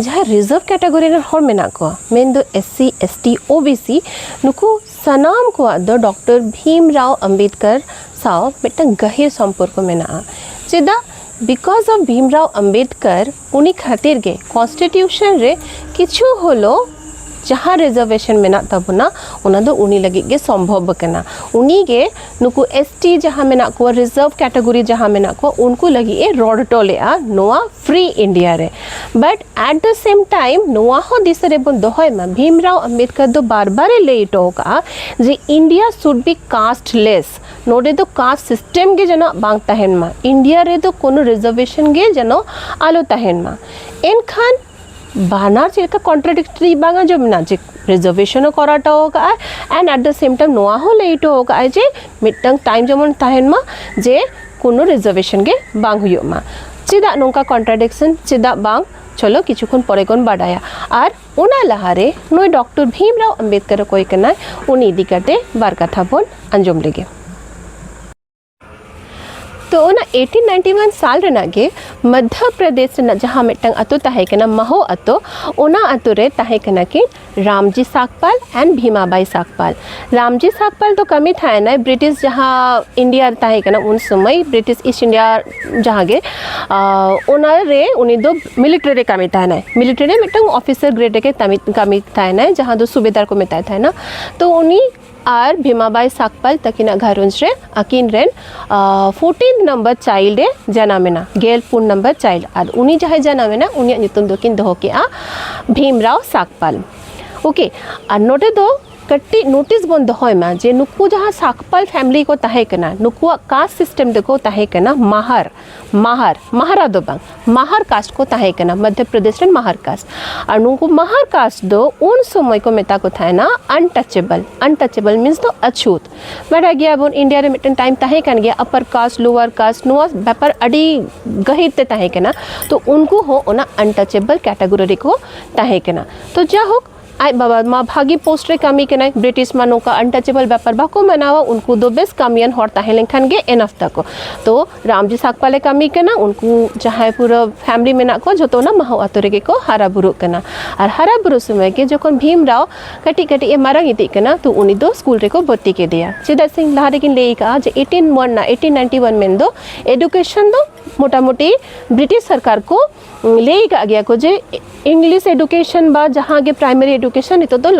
ᱡᱟᱦᱟᱸ reserve category ᱨᱮᱱ ᱦᱚᱲ ᱢᱮᱱᱟᱜ ᱠᱚᱣᱟ ᱢᱮᱱᱫᱚ S C S T O B C ᱱᱩᱠᱩ ᱥᱟᱱᱟᱢ ᱠᱚᱣᱟᱜ ᱫᱚ ᱰᱚᱠᱴᱚᱨ ᱵᱷᱤᱢ ᱨᱟᱣ ᱟᱢᱵᱮᱫᱠᱚᱨ ᱥᱟᱶ ᱢᱤᱫᱴᱟᱝ ᱜᱟᱹᱦᱤᱨ ᱥᱚᱢᱯᱚᱨᱠᱚ ᱢᱮᱱᱟᱜᱼᱟ ᱪᱮᱫᱟᱜ ᱵᱤᱠᱚᱡ ᱚᱯᱷ ᱵᱷᱤᱢ ᱨᱟᱣ ᱟᱢᱵᱮᱫᱠᱚᱨ ᱩᱱᱤ ᱠᱷᱟᱹᱛᱤᱨ ᱜᱮ ᱠᱚᱱᱥᱴᱤᱴᱤᱭᱩᱥᱚᱱ ᱨᱮ ᱠᱤᱪᱷᱩ ᱦᱚᱞᱳ ᱡᱟᱦᱟᱸ ᱨᱤᱡᱟᱨᱵᱷᱮᱥᱚᱱ ᱢᱮᱱᱟᱜ ᱛᱟᱵᱚᱱᱟ ᱚᱱᱟ ᱫᱚ ᱩᱱᱤ ᱞᱟᱹᱜᱤᱫ ᱜᱮ ᱥᱚᱢᱵᱷᱚᱵ ᱟᱠᱟᱱᱟ ᱩᱱᱤ ᱜᱮ ᱱᱩᱠᱩ ᱮᱥ ᱴᱤ ᱡᱟᱦᱟᱸ ᱢᱮᱱᱟᱜ ᱠᱚᱣᱟ ᱨᱤᱡᱟᱨᱵᱷ ᱠᱮᱴᱟᱜᱚᱨᱤ ᱡᱟᱦᱟᱸ ᱢᱮᱱᱟᱜ ᱠᱚᱣᱟ ᱩᱱᱠᱩ ᱞᱟᱹᱜᱤᱫ ᱮ ᱨᱚᱲ ᱦᱚᱴᱚ ᱞᱮᱫᱼᱟ ᱱᱚᱣᱟ ᱯᱷᱨᱤ ᱤᱱᱰᱤᱭᱟ ᱨᱮ but at the same time ᱱᱚᱣᱟ ᱦᱚᱸ ᱫᱤᱥᱟᱹ ᱨᱮᱵᱚᱱ ᱫᱚᱦᱚᱭ ᱢᱟ ᱵᱷᱤᱢ ᱨᱟᱣ ᱟᱢᱵᱮᱫᱠᱚᱨ ᱫᱚ ᱵᱟᱨ ᱵᱟᱨ ᱮ ᱞᱟᱹᱭ ᱦᱚᱴᱚ ᱟᱠᱟᱫᱼᱟ ᱡᱮ ᱤᱱᱰᱤᱭᱟ ᱥᱩᱰ ᱵᱤ ᱠᱟᱥᱴ ᱞᱮᱥ ᱱᱚᱰᱮ ᱫᱚ ᱠᱟᱥᱴ ᱥᱤᱥᱴᱮᱢ ᱜᱮ ᱡᱮᱱᱚ ᱵᱟᱝ ᱛᱟᱦᱮᱱ ᱢᱟ ᱤᱱᱰᱤᱭᱟ ᱨᱮᱫᱚ ᱠᱳᱱᱳ ᱨᱤᱡᱟᱨᱵᱷᱮᱥᱚᱱ ᱜᱮ ᱡᱮᱱᱚ ᱟᱞᱚ ᱛᱟᱦᱮᱱ ᱢᱟ ᱮᱱᱠᱷᱟᱱ ᱵᱟᱱᱟᱨ ᱪᱮᱫ ᱞᱮᱠᱟ ᱠᱚᱱᱴᱨᱟᱰᱤᱠᱴᱨᱤ ᱵᱟᱝ ᱟᱸᱡᱚᱢ ᱮᱱᱟ ᱡᱮ ᱯᱨᱤᱡᱟᱨᱵᱷᱮᱥᱚᱱ ᱦᱚᱸ ᱠᱚᱨᱟᱣ ᱦᱚᱴᱚ ᱟᱠᱟᱫᱼᱟᱭ and at the same time ᱱᱚᱣᱟ ᱦᱚᱸ ᱞᱟᱹᱭ ᱦᱚᱴᱚ ᱟᱠᱟᱫᱼᱟᱭ ᱡᱮ ᱢᱤᱫᱴᱟᱝ ᱴᱟᱭᱤᱢ ᱡᱮᱢᱚᱱ ᱛᱟᱦᱮᱱ ᱢᱟ ᱡᱮ ᱠᱳᱱᱳ ᱨᱤᱡᱟᱨᱵᱷᱮᱥᱚᱱ ᱜᱮ ᱵᱟᱝ ᱦᱩᱭᱩᱜ ᱢᱟ ᱪᱮᱫᱟᱜ ᱱᱚᱝᱠᱟ ᱠᱚᱱᱴᱨᱟᱰᱤᱠᱥᱚᱱ ᱪᱮᱫᱟᱜ ᱵᱟᱝ ᱪᱚᱞᱚ ᱠᱤᱪᱷᱩ ᱠᱷᱚᱱ ᱯᱚᱨᱮ ᱵᱚᱱ ᱵᱟᱰᱟᱭᱟ ᱟᱨ ᱚᱱᱟ ᱞᱟᱦᱟᱨᱮ ᱱᱩᱭ ᱰᱚᱠᱴᱚᱨ ᱵᱷᱤᱢᱨᱟᱣ ᱟᱢᱵᱮᱫᱠᱚᱨ ᱚᱠᱚᱭ ᱠᱟᱱᱟᱭ ᱩᱱᱤ ᱤᱫᱤ ᱠᱟᱛᱮ ᱵᱟᱨ ᱠᱟᱛᱷᱟ ᱵᱚᱱ ᱟᱸᱡᱚᱢ ᱞᱮᱜᱮ ᱛᱚ ᱚᱱᱟ ᱮᱭᱴᱤᱱ ᱱᱟᱭᱤᱱᱴᱤ ᱚᱣᱟᱱ ᱥᱟᱞ ᱨᱮᱱᱟᱜ ᱜᱮ ᱢᱚᱫᱽᱫᱷᱚ ᱯᱨᱚᱫᱮᱥ ᱨᱮᱱᱟᱜ ᱡᱟᱦᱟᱸ ᱢᱤᱫᱴᱟᱝ ᱟᱛᱳ ᱛᱟᱦᱮᱸ ᱠᱟᱱᱟ ᱢᱟᱦᱳ ᱟᱛᱳ ᱚᱱᱟ ᱟᱛᱳ ᱨᱮ ᱛᱟᱦᱮᱸ ᱠᱟᱱᱟ ᱠᱤᱱ ᱨᱟᱢᱡᱤ ᱥᱟᱠᱯᱟᱞ ᱮᱱᱰ ᱵᱷᱤᱢᱟᱵᱟᱭ ᱥᱟᱠᱯᱟᱞ ᱨᱟᱢᱡᱤ ᱥᱟᱠᱯᱟᱞ ᱫᱚ ᱠᱟᱹᱢᱤ ᱛᱟᱦᱮᱱᱟᱭ ᱵᱨᱤᱴᱤᱥ ᱡᱟᱦᱟᱸ ᱤᱱᱰᱤᱭᱟ ᱨᱮ ᱛᱟᱦᱮᱸ ᱠᱟᱱᱟ ᱩᱱ ᱥᱚᱢᱚᱭ ᱵᱨᱤᱴᱤᱥ ᱤᱥᱴ ᱤᱱᱰᱤᱭᱟ ᱡᱟᱦᱟᱸ ᱜᱮ ᱚᱱᱟ ᱨᱮ ᱩᱱᱤ ᱫᱚ ᱢᱤᱞᱤᱴᱟᱨᱤ ᱨᱮ ᱠᱟᱹᱢᱤ ᱛᱟᱦᱮᱱᱟᱭ ᱢᱤᱞᱤᱴᱟᱨᱤ ᱨᱮ ᱢᱤᱫᱴᱟᱝ ᱚᱯᱷᱤᱥᱟᱨ ᱜᱨᱮᱰ ᱨᱮᱜᱮ ᱠᱟᱹᱢᱤ ᱠᱟᱹᱢᱤ ᱛᱟᱦᱮᱱᱟᱭ ᱡᱟᱦᱟᱸ ᱫᱚ ᱥᱩᱵᱮᱫᱟᱨ ᱠᱚ ᱢᱮᱛᱟᱭ ᱛᱟᱦᱮᱱᱟ ᱛᱚ ᱩᱱᱤ ᱟᱨ ᱵᱷᱤᱢᱟᱵᱟᱭ ᱥᱟᱠᱯᱟᱞ ᱛᱟᱹᱠᱤᱱᱟᱜ ᱜᱷᱟᱨᱚᱸᱡᱽ ᱨᱮ ᱟᱹᱠᱤᱱ ᱨᱮᱱ ᱯᱷᱳᱨᱴᱤᱱ ᱱᱟᱢᱵᱟᱨ ᱪᱟᱭᱤᱞᱰ ᱮ ᱡᱟᱱᱟᱢᱮᱱᱟ ᱜᱮᱞ ᱯᱩᱱ ᱱᱟᱢᱵᱟᱨ ᱪᱟᱭᱤᱞᱰ ᱟᱨ ᱩᱱᱤ ᱡᱟᱦᱟᱸᱭ ᱡᱟᱱᱟᱢᱮᱱᱟ ᱩᱱᱤᱭᱟᱜ ᱧᱩᱛᱩᱢ ᱫᱚᱠᱤᱱ ᱫᱚᱦᱚ ᱠᱮᱜᱼᱟ ᱵᱷᱤᱢᱨᱟᱣ ᱥᱟᱠᱯᱟᱞ ᱳᱠᱮ ᱟᱨ ᱱᱚᱰᱮ ᱫᱚ ᱠᱟᱹᱴᱤᱡ ᱱᱳᱴᱤᱥ ᱵᱚᱱ ᱫᱚᱦᱚᱭ ᱢᱟ ᱡᱮ ᱱᱩᱠᱩ ᱡᱟᱦᱟᱸ ᱥᱟᱠᱯᱟᱞ ᱯᱷᱮᱢᱞᱤ ᱠᱚ ᱛᱟᱦᱮᱸ ᱠᱟᱱᱟ ᱱᱩᱠᱩᱣᱟᱜ ᱠᱟᱥᱴ ᱥᱤᱥᱴᱮᱢ ᱫᱚᱠᱚ ᱛᱟᱦᱮᱸ ᱠᱟᱱᱟ ᱢᱟᱦᱟᱨ ᱢᱟᱦᱟᱨ ᱢᱟᱦᱟᱨᱟ ᱫᱚ ᱵᱟᱝ ᱢᱟᱦᱟᱨ ᱠᱟᱥᱴ ᱠᱚ ᱛᱟᱦᱮᱸ ᱠᱟᱱᱟ ᱢᱚᱫᱷᱭᱚ ᱯᱨᱚᱫᱮᱥ ᱨᱮᱱ ᱢᱟᱦᱟᱨ ᱠᱟᱥᱴ ᱟᱨ ᱱᱩᱠᱩ ᱢᱟᱦᱟᱨ ᱠᱟᱥᱴ ᱫᱚ ᱩᱱ ᱥᱚᱢᱚᱭ ᱠᱚ ᱢᱮᱛᱟ ᱠᱚ ᱛᱟᱦᱮᱱᱟ ᱟᱱᱴᱟᱪᱮᱵᱚᱞ ᱟᱱᱴᱟᱪᱮᱵᱚᱞ ᱢᱤᱱᱥ ᱫᱚ ᱟᱪᱷᱩᱛ ᱵᱟᱰᱟᱭ ᱜᱮᱭᱟ ᱵᱚᱱ ᱤᱱᱰᱤᱭᱟ ᱨᱮ ᱢᱤᱫᱴᱮᱱ ᱴᱟᱭᱤᱢ ᱛᱟᱦᱮᱸ ᱠᱟᱱ ᱜᱮᱭᱟ ᱟᱯᱟᱨ ᱠᱟᱥᱴ ᱞᱳᱣᱟᱨ ᱠᱟᱥᱴ ᱱᱚᱣᱟ ᱵᱮᱯᱟᱨ ᱟᱹᱰᱤ ᱜᱟᱹᱦᱤᱨ ᱛᱮ ᱛᱟᱦᱮᱸ ᱠᱟᱱᱟ ᱛᱚ ᱩᱱᱠᱩ ᱦᱚᱸ ᱚᱱᱟ ᱟᱱᱴᱟᱪᱮᱵᱚᱞ ᱠᱮᱴᱟᱜᱚᱨᱤ ᱨᱮᱠᱚ ᱛᱟᱦᱮᱸ ᱠᱟᱱᱟ ᱛᱚ ᱡᱟᱭᱦᱳᱠ ᱟᱡ ᱵᱟᱵᱟ ᱢᱟ ᱵᱷᱟᱜᱤ ᱯᱳᱥᱴ ᱨᱮ ᱠᱟᱹᱢᱤ ᱠᱟᱱᱟᱭ ᱵᱨᱤᱴᱤᱥ ᱢᱟ ᱱᱚᱝᱠᱟ ᱟᱱᱴᱟᱪᱮᱵᱚᱞ ᱵᱮᱯᱟᱨ ᱵᱟᱠᱚ ᱢᱟᱱᱟᱣᱟ ᱩᱱᱠᱩ ᱫᱚ ᱵᱮᱥ ᱠᱟᱹᱢᱤᱭᱟᱱ ᱦᱚᱲ ᱛᱟᱦᱮᱸ ᱞᱮᱱᱠᱷᱟᱱ ᱜᱮ ᱮᱱᱟᱯ ᱛᱟᱠᱚ ᱛᱚ ᱨᱟᱢᱡᱤ ᱥᱟᱠᱯᱟᱞᱮ ᱠᱟᱹᱢᱤ ᱠᱟᱱᱟ ᱩᱱᱠᱩ ᱡᱟᱦᱟᱸᱭ ᱯᱩᱨᱟᱹ ᱯᱷᱮᱢᱞᱤ ᱢᱮᱱᱟᱜ ᱠᱚ ᱡᱚᱛᱚ ᱚᱱᱟ ᱢᱟᱦᱟᱣ ᱟᱛᱳ ᱨᱮᱜᱮ ᱠᱚ ᱦᱟᱨᱟ ᱵᱩᱨᱩᱜ ᱠᱟᱱᱟ ᱟᱨ ᱦᱟᱨᱟ ᱵᱩᱨᱩ ᱥᱚᱢᱚᱭ ᱜᱮ ᱡᱚᱠᱷᱚᱱ ᱵᱷᱤᱢ ᱨᱟᱣ ᱠᱟᱹᱴᱤᱡ ᱠᱟᱹᱴᱤᱡ ᱮ ᱢᱟᱨᱟᱝ ᱤᱫᱤᱜ ᱠᱟᱱᱟ ᱛᱚ ᱩᱱᱤ ᱫᱚ ᱥᱠᱩᱞ ᱨᱮᱠᱚ ᱵᱷᱚᱨᱛᱤ ᱠᱮᱫᱮᱭᱟ ᱪᱮᱫᱟᱜ ᱥᱮ ᱞᱟᱦᱟ ᱨᱮᱜᱤᱧ ᱞᱟᱹᱭ ᱠᱟᱜᱼᱟ ᱡᱮ ᱮᱭᱤᱴᱤᱱ ᱢᱚᱱ ᱨᱮᱱᱟᱜ ᱮᱭᱤᱴᱤᱱ ᱱᱟᱭᱤᱱᱴᱤ ᱚᱣᱟᱱ ᱢᱮᱱᱫᱚ ᱮᱰᱩᱠᱮᱥᱚᱱ ᱫᱚ ᱢᱚᱴᱟᱢᱩᱴᱤ ᱵᱨᱤᱴᱤᱥ ᱥᱚᱨᱠᱟᱨ ᱠᱚ ᱞᱟᱹᱭ ᱟᱠᱟᱫ ᱜᱮᱭᱟ ᱠᱚ ᱡᱮ ᱤᱝᱞᱤᱥ ᱮᱰᱩᱠᱮᱥᱚᱱ ᱵᱟ ᱡᱟᱦᱟᱸ ᱜᱮ ᱯᱨᱟᱭᱢᱟᱨᱤ ᱮᱰᱩᱠᱮᱥᱚᱱ ᱱᱤᱛᱚᱜ ᱫᱚ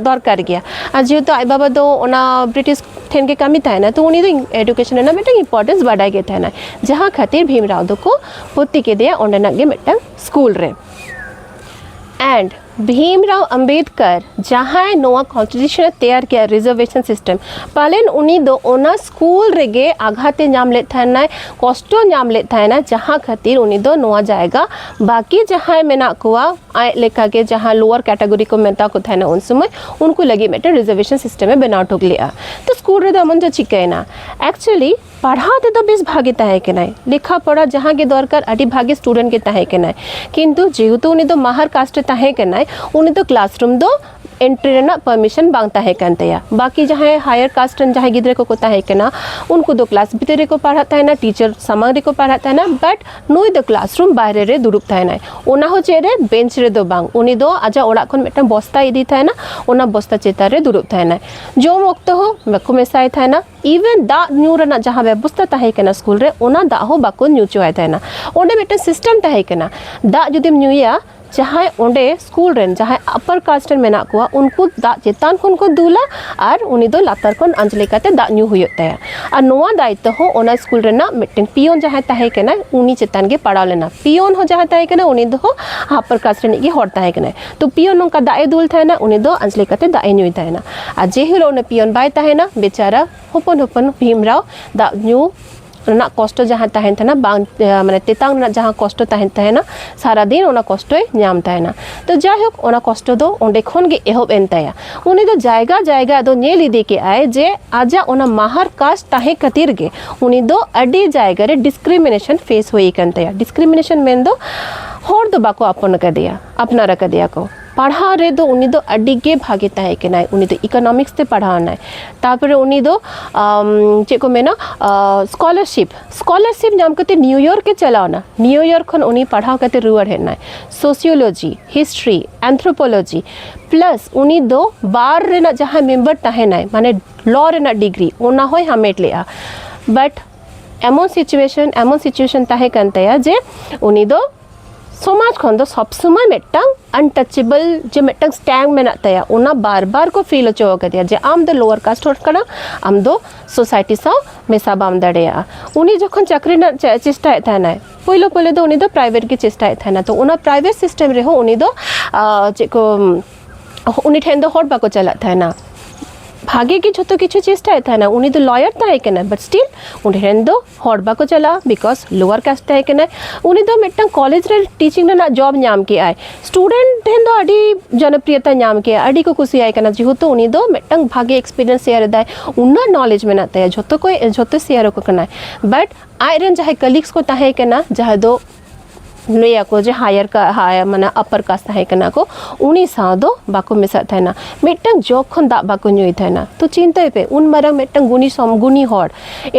ᱫᱚᱨᱠᱟᱨ ᱜᱮᱭᱟ ᱟᱨ ᱡᱮᱦᱮᱛᱩ ᱟᱡ ᱵᱟᱵᱟ ᱫᱚ ᱚᱱᱟ ᱵᱨᱤᱴᱤᱥ ᱴᱷᱮᱱ ᱜᱮ ᱠᱟᱹᱢᱤ ᱛᱟᱦᱮᱱᱟ ᱛᱚ ᱩᱱᱤ ᱫᱚ ᱮᱰᱩᱠᱮᱥᱚᱱ ᱨᱮᱱᱟᱜ ᱢᱤᱫᱴᱟᱝ ᱤᱢᱯᱚᱨᱴᱮᱱᱥ ᱵᱟᱰᱟᱭ ᱜᱮ ᱛᱟᱦᱮᱱᱟ ᱡᱟᱦᱟᱸ ᱠᱷᱟᱹᱛᱤᱨ ᱵᱷᱤᱢ ᱨᱟᱣ ᱫᱚᱠᱚ ᱵᱷᱚᱨᱛᱤ ᱠᱮᱫᱮᱭᱟ ᱚᱸᱰᱮᱱᱟᱜ ᱜᱮ ᱢᱤᱫᱴᱟᱝ ᱥᱠᱩᱞ ᱨᱮ ᱮᱱᱰ ᱵᱷᱤᱢᱨᱟᱣ ᱟᱢᱵᱮᱫᱠᱟᱨ ᱡᱟᱦᱟᱸᱭ ᱱᱚᱣᱟ ᱠᱚᱱᱥᱴᱤᱴᱤᱭᱩᱥᱚᱱ ᱮ ᱛᱮᱭᱟᱨ ᱠᱮᱫᱟ ᱨᱤᱡᱟᱨᱵᱷᱮᱥᱚᱱ ᱥᱤᱥᱴᱮᱢ ᱯᱟᱞᱮᱱ ᱩᱱᱤ ᱫᱚ ᱚᱱᱟ ᱥᱠᱩᱞ ᱨᱮᱜᱮ ᱟᱜᱷᱟᱛᱮ ᱧᱟᱢ ᱞᱮᱫ ᱛᱟᱦᱮᱱᱟᱭ ᱠᱚᱥᱴᱚ ᱧᱟᱢ ᱞᱮᱫ ᱛᱟᱦᱮᱱᱟ ᱡᱟᱦᱟᱸ ᱠᱷᱟᱹᱛᱤᱨ ᱩᱱᱤ ᱫᱚ ᱱᱚᱣᱟ ᱡᱟᱭᱜᱟ ᱵᱟᱹᱠᱤ ᱡᱟᱦᱟᱸᱭ ᱢᱮᱱᱟᱜ ᱠᱚᱣᱟ ᱟᱡ ᱞᱮᱠᱟᱜᱮ ᱡᱟᱦᱟᱸ ᱞᱳᱣᱟᱨ ᱠᱮᱴᱟᱜᱚᱨᱤ ᱠᱚ ᱢᱮᱛᱟ ᱠᱚ ᱛᱟᱦᱮᱱᱟ ᱩᱱ ᱥᱚᱢᱚᱭ ᱩᱱᱠᱩ ᱞᱟᱹᱜᱤᱫ ᱢᱤᱫᱴᱮᱱ ᱨᱤᱡᱟᱨᱵᱷᱮᱥᱚᱱ ᱥᱤᱥᱴᱮᱢ ᱮ ᱵᱮᱱᱟᱣ ᱴᱷᱩᱠ ᱞᱮᱫᱼᱟ ᱛᱚ ᱥᱠᱩᱞ ᱨᱮᱫᱚ ᱮᱢᱚᱱ ᱫᱚ ᱪᱤᱠᱟᱹᱭᱮᱱᱟ ᱮᱠᱪᱩᱭᱮᱞᱤ ᱯᱟᱲᱦᱟᱣ ᱛᱮᱫᱚ ᱵᱮᱥ ᱵᱷᱟᱜᱮ ᱛᱟᱦᱮᱸ ᱠᱟᱱᱟᱭ ᱞᱮᱠᱷᱟ ᱯᱚᱲᱟ ᱡᱟᱦᱟᱸ ᱜᱮ ᱫᱚᱨᱠᱟᱨ ᱟᱹᱰᱤ ᱵᱷᱟᱜᱮ ᱥᱴᱩᱰᱮᱱᱴ ᱜᱮ ᱛᱟᱦᱮᱸ ᱠᱟᱱᱟᱭ ᱠᱤᱱᱛᱩ ᱡᱮᱦᱮᱛᱩ ᱩᱱᱤ ᱫᱚ ᱢᱟᱦᱟᱨ ᱠᱟᱥᱴ ᱨᱮ ᱛᱟᱦᱮᱸ ᱠᱟᱱᱟᱭ ᱩᱱᱤ ᱫᱚ ᱠᱞᱟᱥᱨᱩᱢ ᱫᱚ ᱮᱱᱴᱨᱤ ᱨᱮᱱᱟᱜ ᱯᱟᱨᱢᱤᱥᱚᱱ ᱵᱟᱝ ᱛᱟᱦᱮᱸ ᱠᱟᱱ ᱛᱟᱭᱟ ᱵᱟᱹᱠᱤ ᱡᱟᱦᱟᱸᱭ ᱦᱟᱭᱟᱨ ᱠᱟᱥᱴ ᱨᱮᱱ ᱡᱟᱦᱟᱸᱭ ᱜᱤᱫᱽᱨᱟᱹ ᱠᱚᱠᱚ ᱛᱟᱦᱮᱸ ᱠᱟᱱᱟ ᱩᱱᱠᱩ ᱫᱚ ᱠᱞᱟᱥ ᱵᱷᱤᱛᱤᱨ ᱨᱮᱠᱚ ᱯᱟᱲᱦᱟᱜ ᱛᱟᱦᱮᱱᱟ ᱴᱤᱪᱟᱨ ᱥᱟᱢᱟᱝ ᱨᱮᱠᱚ ᱯᱟᱲᱦᱟᱜ ᱛᱟᱦᱮᱱᱟ ᱵᱟᱴ ᱱᱩᱭ ᱫᱚ ᱠᱞᱟᱥᱨᱩᱢ ᱵᱟᱭᱨᱮ ᱨᱮ ᱫᱩᱲᱩᱵ ᱛᱟᱦᱮᱱᱟᱭ ᱚᱱᱟ ᱦᱚᱸ ᱪᱮᱫ ᱨᱮ ᱵᱮᱧᱪ ᱨᱮᱫᱚ ᱵᱟᱝ ᱩᱱᱤ ᱫᱚ ᱟᱡᱟᱜ ᱚᱲᱟᱜ ᱠᱷᱚᱱ ᱢᱤᱫᱴᱟᱝ ᱵᱚᱥᱛᱟᱭ ᱤᱫᱤ ᱛᱟᱦᱮᱱᱟ ᱚᱱᱟ ᱵᱚᱥᱛᱟ ᱪᱮᱛᱟᱱ ᱨᱮ ᱫᱩᱲᱩᱵ ᱛᱟᱦᱮᱱᱟᱭ ᱡᱚᱢ ᱚᱠᱛᱚ ᱦᱚᱸ ᱵᱟᱠᱚ ᱢᱮᱥᱟᱭ ᱛᱟᱦᱮᱱᱟ ᱤᱵᱷᱮᱱ ᱫᱟᱜ ᱧᱩ ᱨᱮᱱᱟᱜ ᱡᱟᱦᱟᱸ ᱵᱮᱵᱚᱥᱛᱟ ᱛᱟᱦᱮᱸ ᱠᱟᱱᱟ ᱥᱠᱩᱞ ᱨᱮ ᱚᱱᱟ ᱫᱟᱜ ᱦᱚᱸ ᱵᱟᱠᱚ ᱧᱩ ᱦᱚᱪᱚᱣᱟᱭ ᱛᱟᱦᱮᱱᱟ ᱚᱸᱰᱮ ᱢᱤᱫᱴᱮᱱ ᱥᱤᱥᱴᱮᱢ ᱛᱟᱦᱮᱸ ᱠᱟᱱᱟ ᱫᱟᱜ ᱡᱩᱫᱤᱢ ᱧᱩᱭᱟ ᱡᱟᱦᱟᱸᱭ ᱚᱸᱰᱮ ᱥᱠᱩᱞ ᱨᱮᱱ ᱡᱟᱦᱟᱸᱭ ᱟᱯᱟᱨ ᱠᱟᱥᱴ ᱨᱮᱱ ᱢᱮᱱᱟᱜ ᱠᱚᱣᱟ ᱩᱱᱠᱩ ᱫᱟᱜ ᱪᱮᱛᱟᱱ ᱠᱷᱚᱱ ᱠᱚ ᱫᱩᱞᱟ ᱟᱨ ᱩᱱᱤ ᱫᱚ ᱞᱟᱛᱟᱨ ᱠᱷᱚᱱ ᱟᱸᱡᱽᱞᱮ ᱠᱟᱛᱮ ᱫᱟᱜ ᱧᱩ ᱦᱩᱭᱩᱜ ᱛᱟᱭᱟ ᱟᱨ ᱱᱚᱣᱟ ᱫᱟᱭᱤᱛᱛᱚ ᱦᱚᱸ ᱚᱱᱟ ᱥᱠᱩᱞ ᱨᱮᱱᱟᱜ ᱢᱤᱫᱴᱮᱱ ᱯᱤᱭᱚᱱ ᱡᱟᱦᱟᱸᱭ ᱛᱟᱦᱮᱸ ᱠᱟᱱᱟᱭ ᱩᱱᱤ ᱪᱮᱛᱟᱱ ᱜᱮ ᱯᱟᱲᱟᱣ ᱞᱮᱱᱟ ᱯᱤᱭᱚᱱ ᱦᱚᱸ ᱡᱟᱦᱟᱸᱭ ᱛᱟᱦᱮᱸ ᱠᱟᱱᱟᱭ ᱩᱱᱤ ᱫᱚ ᱟᱯᱟᱨ ᱠᱟᱥᱴ ᱨᱤᱱᱤᱡ ᱜᱮ ᱦᱚᱲ ᱛᱟᱦᱮᱸ ᱠᱟᱱᱟᱭ ᱛᱚ ᱯᱤᱭᱚᱱ ᱱᱚᱝᱠᱟ ᱫᱟᱜ ᱮ ᱫᱩᱞ ᱛᱟᱦᱮᱱᱟ ᱩᱱᱤ ᱫᱚ ᱟᱸᱡᱽᱞᱮ ᱠᱟᱛᱮ ᱫᱟᱜ ᱮ ᱧᱩᱭ ᱛᱟᱦᱮᱱᱟ ᱟᱨ ᱡᱮ ᱦᱤᱞᱳᱜ ᱩᱱᱤ ᱯᱤᱭᱚᱱ ᱵᱟᱭ ᱛᱟᱦᱮᱱᱟ ᱵᱮᱪᱟᱨᱟ ᱦᱚᱯᱚᱱ ᱦᱚᱯᱚᱱ ᱵᱷᱤᱢᱨᱟᱣ ᱫᱟᱜ ᱧᱩ ᱨᱮᱱᱟᱜ ᱠᱚᱥᱴᱚ ᱡᱟᱦᱟᱸ ᱛᱟᱦᱮᱱ ᱛᱟᱦᱮᱱᱟ ᱵᱟᱝ ᱢᱟᱱᱮ ᱛᱮᱛᱟᱝ ᱨᱮᱱᱟᱜ ᱡᱟᱦᱟᱸ ᱠᱚᱥᱴᱚ ᱛᱟᱦᱮᱱ ᱛᱟᱦᱮᱱᱟ ᱥᱟᱨᱟᱫᱤᱱ ᱚᱱᱟ ᱠᱚᱥᱴᱚᱭ ᱧᱟᱢ ᱛᱟᱦᱮᱱᱟ ᱛᱚ ᱡᱟᱭᱦᱳᱠ ᱚᱱᱟ ᱠᱚᱥᱴᱚ ᱫᱚ ᱚᱸᱰᱮ ᱠᱷᱚᱱ ᱜᱮ ᱮᱦᱚᱵ ᱮᱱ ᱛᱟᱭᱟ ᱩᱱᱤ ᱫᱚ ᱡᱟᱭᱜᱟ ᱡᱟᱭᱜᱟ ᱫᱚ ᱧᱮᱞ ᱤᱫᱤ ᱠᱮᱜᱼᱟᱭ ᱡᱮ ᱟᱡᱟᱜ ᱚᱱᱟ ᱢᱟᱦᱟᱨ ᱠᱟᱥᱴ ᱛᱟᱦᱮᱸ ᱠᱷᱟᱹᱛᱤᱨ ᱜᱮ ᱩᱱᱤ ᱫᱚ ᱟᱹᱰᱤ ᱡᱟᱭᱜᱟ ᱨᱮ ᱰᱤᱥᱠᱨᱤᱢᱤᱱᱮᱥᱚᱱ ᱯᱷᱮᱥ ᱦᱩᱭ ᱟᱠᱟᱱ ᱛᱟᱭᱟ ᱰᱤᱥᱠᱨᱤᱢᱤᱱᱮᱥᱚᱱ ᱢᱮᱱᱫᱚ ᱦᱚᱲ ᱫᱚ ᱵᱟᱠᱚ ᱟᱯᱚᱱ ᱟᱠᱟᱫᱮᱭᱟ ᱟᱯᱱᱟᱨ ᱟᱠᱟᱫᱮᱭᱟ ᱠᱚ ᱯᱟᱲᱦᱟᱣ ᱨᱮᱫᱚ ᱩᱱᱤ ᱫᱚ ᱟᱹᱰᱤ ᱜᱮ ᱵᱷᱟᱜᱮ ᱛᱟᱦᱮᱸ ᱠᱟᱱᱟᱭ ᱩᱱᱤ ᱫᱚ ᱤᱠᱳᱱᱚᱢᱤᱠᱥ ᱛᱮ ᱯᱟᱲᱦᱟᱣ ᱮᱱᱟᱭ ᱛᱟᱨᱯᱚᱨᱮ ᱩᱱᱤ ᱫᱚ ᱪᱮᱫ ᱠᱚ ᱢᱮᱱᱟ ᱥᱠᱚᱞᱟᱨᱥᱤᱯ ᱥᱠᱚᱞᱟᱨᱥᱤᱯ ᱧᱟᱢ ᱠᱟᱛᱮ ᱱᱤᱭᱩᱭᱚᱨᱠ ᱮ ᱪᱟᱞᱟᱣ ᱮᱱᱟ ᱱᱤᱭᱩᱭᱚᱨᱠ ᱠᱷᱚᱱ ᱩᱱᱤ ᱯᱟᱲᱦᱟᱣ ᱠᱟᱛᱮ ᱨᱩᱣᱟᱹᱲ ᱦᱮᱡ ᱮᱱᱟᱭ ᱥᱳᱥᱤᱭᱳᱞᱚᱡᱤ ᱦᱤᱥᱴᱨᱤ ᱮᱱᱛᱷᱨᱳᱯᱳᱞᱚᱡᱤ ᱯᱞᱟᱥ ᱩᱱᱤ ᱫᱚ ᱵᱟᱨ ᱨᱮᱱᱟᱜ ᱡᱟᱦᱟᱸ ᱢᱮᱢᱵᱟᱨ ᱛᱟᱦᱮᱱᱟᱭ ᱢᱟᱱᱮ ᱞᱚ ᱨᱮᱱᱟᱜ ᱰᱤᱜᱽᱨᱤ ᱚᱱᱟ ᱦᱚᱸᱭ ᱦᱟᱢᱮᱴ ᱞᱮᱜᱼᱟ ᱵᱟᱴ ᱮᱢᱚᱱ ᱥᱤᱪᱩᱭᱮᱥᱚᱱ ᱮᱢᱚᱱ ᱥᱤᱪᱩᱭᱮᱥᱚᱱ ᱛᱟᱦᱮᱸ ᱠᱟᱱ ᱛᱟᱭᱟ ᱡᱮ ᱩᱱᱤ ᱫᱚ ᱥᱚᱢᱟᱡᱽ ᱠᱷᱚᱱ ᱫᱚ ᱥᱚᱵ ᱥᱚᱢᱚᱭ ᱢᱤᱫᱴᱟᱝ ᱟᱱᱴᱟᱪᱮᱵᱚᱞ ᱡᱮ ᱢᱤᱫᱴᱟᱝ ᱥᱴᱮᱝ ᱢᱮᱱᱟᱜ ᱛᱟᱭᱟ ᱚᱱᱟ ᱵᱟᱨ ᱵᱟᱨ ᱠᱚ ᱯᱷᱤᱞ ᱦᱚᱪᱚ ᱟᱠᱟᱫᱮᱭᱟ ᱡᱮ ᱟᱢ ᱫᱚ ᱞᱳᱣᱟᱨ ᱠᱟᱥᱴ ᱦᱚᱲ ᱠᱟᱱᱟ ᱟᱢ ᱫᱚ ᱥᱳᱥᱟᱭᱴᱤ ᱥᱟᱶ ᱢᱮᱥᱟ ᱵᱟᱢ ᱫᱟᱲᱮᱭᱟᱜᱼᱟ ᱩᱱᱤ ᱡᱚᱠᱷᱚᱱ ᱪᱟᱹᱠᱨᱤ ᱨᱮᱱᱟᱜ ᱪᱮᱥᱴᱟᱭᱮᱫ ᱛᱟᱦᱮᱱᱟᱭ ᱯᱳᱭᱞᱳ ᱯᱳᱭᱞᱳ ᱫᱚ ᱩᱱᱤ ᱫᱚ ᱯᱨᱟᱭᱵᱷᱮᱴ ᱜᱮ ᱪᱮᱥᱴᱟᱭᱮᱫ ᱛᱟᱦᱮᱱᱟ ᱛᱚ ᱚᱱᱟ ᱯᱨᱟᱭᱵᱷᱮᱴ ᱥᱤᱥᱴᱮᱢ ᱨᱮᱦᱚᱸ ᱩᱱᱤ ᱫᱚ ᱪᱮᱫ ᱠᱚ ᱩᱱᱤ ᱴᱷᱮᱱ ᱫᱚ ᱦᱚᱲ ᱵᱟᱠᱚ ᱪᱟᱞᱟᱜ ᱛᱟᱦᱮᱱᱟ ᱵᱷᱟᱜᱮ ᱜᱮ ᱡᱷᱚᱛᱚ ᱠᱤᱪᱷᱩ ᱪᱮᱥᱴᱟᱭᱮᱫ ᱛᱟᱦᱮᱱᱟ ᱩᱱᱤ ᱫᱚ ᱞᱚᱭᱟᱨ ᱛᱟᱦᱮᱸ ᱠᱟᱱᱟ ᱵᱟᱴ ᱥᱴᱤᱞ ᱩᱱᱤ ᱨᱮᱱ ᱫᱚ ᱦᱚᱲ ᱵᱟᱠᱚ ᱪᱟᱞᱟᱜᱼᱟ ᱵᱤᱠᱚᱡᱽ ᱞᱳᱣᱟᱨ ᱠᱟᱥᱴ ᱛᱟᱦᱮᱸ ᱠᱟᱱᱟᱭ ᱩᱱᱤ ᱫᱚ ᱢᱤᱫᱴᱟᱝ ᱠᱚᱞᱮᱡᱽ ᱨᱮ ᱴᱤᱪᱤᱝ ᱨᱮᱱᱟᱜ ᱡᱚᱵ ᱧᱟᱢ ᱠᱮᱜᱼᱟᱭ ᱥᱴᱩᱰᱮᱱᱴ ᱴᱷᱮᱱ ᱫᱚ ᱟᱹᱰᱤ ᱡᱚᱱᱚᱯᱨᱤᱭᱚᱛᱟ ᱧᱟᱢ ᱠᱮᱜᱼᱟ ᱟᱹᱰᱤ ᱠᱚ ᱠᱩᱥᱤᱭᱟᱭ ᱠᱟᱱᱟ ᱡᱮᱦᱮᱛᱩ ᱩᱱᱤ ᱫᱚ ᱢᱤᱫᱴᱟᱝ ᱵᱷᱟᱜᱮ ᱮᱠᱥᱯᱤᱨᱤᱭᱮᱱᱥ ᱥᱮᱭᱟᱨ ᱮᱫᱟᱭ ᱩᱱᱟᱹᱜ ᱱᱚᱞᱮᱡᱽ ᱢᱮᱱᱟᱜ ᱛᱟᱭᱟ ᱡᱷᱚᱛᱚ ᱠᱚ ᱡᱷᱚᱛᱚ ᱥᱮᱭᱟᱨ ᱟᱠᱚ ᱠᱟᱱᱟᱭ ᱵᱟᱴ ᱟᱡ ᱨᱮᱱ ᱡᱟᱦᱟᱸᱭ ᱠᱟᱞᱤᱜᱽᱥ ᱠᱚ ᱛᱟᱦᱮᱸ ᱠᱟᱱᱟ ᱡᱟᱦᱟᱸ ᱫᱚ ᱞᱟᱹᱭᱟᱠᱚ ᱡᱮ ᱦᱟᱭᱟᱨ ᱦᱟᱭᱟᱨ ᱢᱟᱱᱮ ᱟᱯᱟᱨ ᱠᱟᱥᱴ ᱛᱟᱦᱮᱸ ᱠᱟᱱᱟ ᱠᱚ ᱩᱱᱤ ᱥᱟᱶ ᱫᱚ ᱵᱟᱠᱚ ᱢᱮᱥᱟᱜ ᱛᱟᱦᱮᱱᱟ ᱢᱤᱫᱴᱟᱝ ᱡᱚᱜᱽ ᱠᱷᱚᱱ ᱫᱟᱜ ᱵᱟᱠᱚ ᱧᱩᱭ ᱛᱟᱦᱮᱱᱟ ᱛᱚ ᱪᱤᱱᱛᱟᱹᱭ ᱯᱮ ᱩᱱ ᱢᱟᱨᱟᱝ ᱢᱤᱫᱴᱟᱝ ᱜᱩᱱᱤ ᱥᱚᱢ ᱜᱩᱱᱤ ᱦᱚᱲ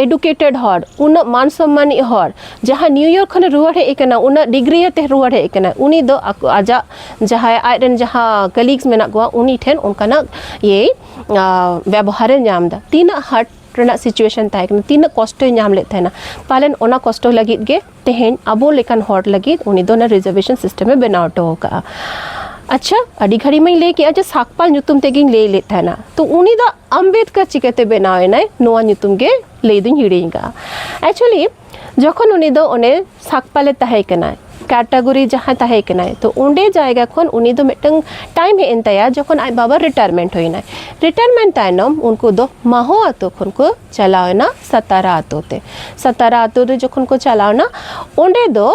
ᱮᱰᱩᱠᱮᱴᱮᱰ ᱦᱚᱲ ᱩᱱᱟᱹᱜ ᱢᱟᱱ ᱥᱚᱢᱢᱟᱱᱤᱡ ᱦᱚᱲ ᱡᱟᱦᱟᱸ ᱱᱤᱭᱩᱭᱚᱨᱠ ᱠᱷᱚᱱᱮ ᱨᱩᱣᱟᱹᱲ ᱦᱮᱡ ᱟᱠᱟᱱᱟ ᱩᱱᱟᱹᱜ ᱰᱤᱜᱽᱨᱤ ᱟᱛᱮ ᱨᱩᱣᱟᱹᱲ ᱦᱮᱡ ᱟᱠᱟᱱᱟ ᱩᱱᱤ ᱫᱚ ᱟᱡᱟᱜ ᱡᱟᱦᱟᱸᱭ ᱟᱡ ᱨᱮᱱ ᱡᱟᱦᱟᱸ ᱠᱟᱞᱤᱜᱽᱥ ᱢᱮᱱᱟᱜ ᱠᱚᱣᱟ ᱩᱱᱤ ᱴᱷᱮᱱ ᱚᱱᱠᱟᱱᱟᱜ ᱤᱭᱟᱹᱭ ᱵᱮᱵᱚᱦᱟᱨᱮ ᱧᱟᱢ ᱮᱫᱟ ᱛᱤᱱᱟᱹᱜ ᱦᱟᱨᱴ ᱨᱮᱱᱟᱜ ᱥᱤᱪᱩᱭᱮᱥᱚᱱ ᱛᱟᱦᱮᱸ ᱠᱟᱱᱟ ᱛᱤᱱᱟᱹᱜ ᱠᱚᱥᱴᱚᱭ ᱧᱟᱢ ᱞᱮᱫ ᱛᱟᱦᱮᱱᱟ ᱯᱟᱞᱮᱱ ᱚᱱᱟ ᱠᱚᱥᱴᱚ ᱞᱟᱹᱜᱤᱫ ᱜᱮ ᱛᱮᱦᱮᱧ ᱟᱵᱚ ᱞᱮᱠᱟᱱ ᱦᱚᱲ ᱞᱟᱹᱜᱤᱫ ᱩᱱᱤ ᱫᱚ ᱚᱱᱟ ᱨᱤᱡᱟᱨᱵᱷᱮᱥᱚᱱ ᱥᱤᱥᱴᱮᱢᱮ ᱵᱮᱱᱟᱣ ᱦᱚᱴᱚ ᱟᱠᱟᱫᱼᱟ ᱟᱪᱪᱷᱟ ᱟᱹᱰᱤ ᱜᱷᱟᱹᱲᱤᱡ ᱢᱟᱹᱧ ᱞᱟᱹᱭ ᱠᱮᱫᱼᱟ ᱡᱮ ᱥᱟᱠᱯᱟᱞ ᱧᱩᱛᱩᱢ ᱛᱮᱜᱮᱧ ᱞᱟᱹᱭ ᱞᱮᱫ ᱛᱟᱦᱮᱱᱟ ᱛᱚ ᱩᱱᱤ ᱫᱚ ᱟᱢᱵᱮᱫᱠᱟᱨ ᱪᱤᱠᱟᱹᱛᱮ ᱵᱮᱱᱟᱣ ᱮᱱᱟᱭ ᱱᱚᱣᱟ ᱧᱩᱛᱩᱢ ᱜᱮ ᱞᱟᱹᱭ ᱫᱚᱧ ᱦᱤᱲᱤᱧ ᱠᱟᱜᱼᱟ ᱮᱠᱪᱩᱭᱮᱞᱤ ᱡᱚᱠᱷᱚᱱ ᱩᱱᱤ ᱫᱚ ᱚᱱᱮ ᱥᱟᱠᱯᱟᱞᱮ ᱛᱟᱦᱮᱸ ᱠᱟᱱᱟᱭ ᱠᱮᱴᱟᱜᱚᱨᱤ ᱡᱟᱦᱟᱸ ᱛᱟᱦᱮᱸ ᱠᱟᱱᱟᱭ ᱛᱚ ᱚᱸᱰᱮ ᱡᱟᱭᱜᱟ ᱠᱷᱚᱱ ᱩᱱᱤ ᱫᱚ ᱢᱤᱫᱴᱟᱝ ᱴᱟᱭᱤᱢ ᱦᱮᱡ ᱮᱱ ᱛᱟᱭᱟ ᱡᱚᱠᱷᱚᱱ ᱟᱡ ᱵᱟᱵᱟ ᱨᱤᱴᱟᱭᱟᱨᱢᱮᱱᱴ ᱦᱩᱭᱱᱟᱭ ᱨᱤᱴᱟᱭᱟᱨᱢᱮᱱᱴ ᱛᱟᱭᱱᱚᱢ ᱩᱱᱠᱩ ᱫᱚ ᱢᱟᱦᱚ ᱟᱛᱳ ᱠᱷᱚᱱ ᱠᱚ ᱪᱟᱞᱟᱣ ᱮᱱᱟ ᱥᱟᱛᱟᱨᱟ ᱟᱛᱳ ᱛᱮ ᱥᱟᱛᱟᱨᱟ ᱟᱛᱳ ᱨᱮ ᱡᱚᱠᱷᱚᱱ ᱠᱚ ᱪᱟᱞᱟᱣ ᱮᱱᱟ ᱚᱸᱰᱮ ᱫᱚ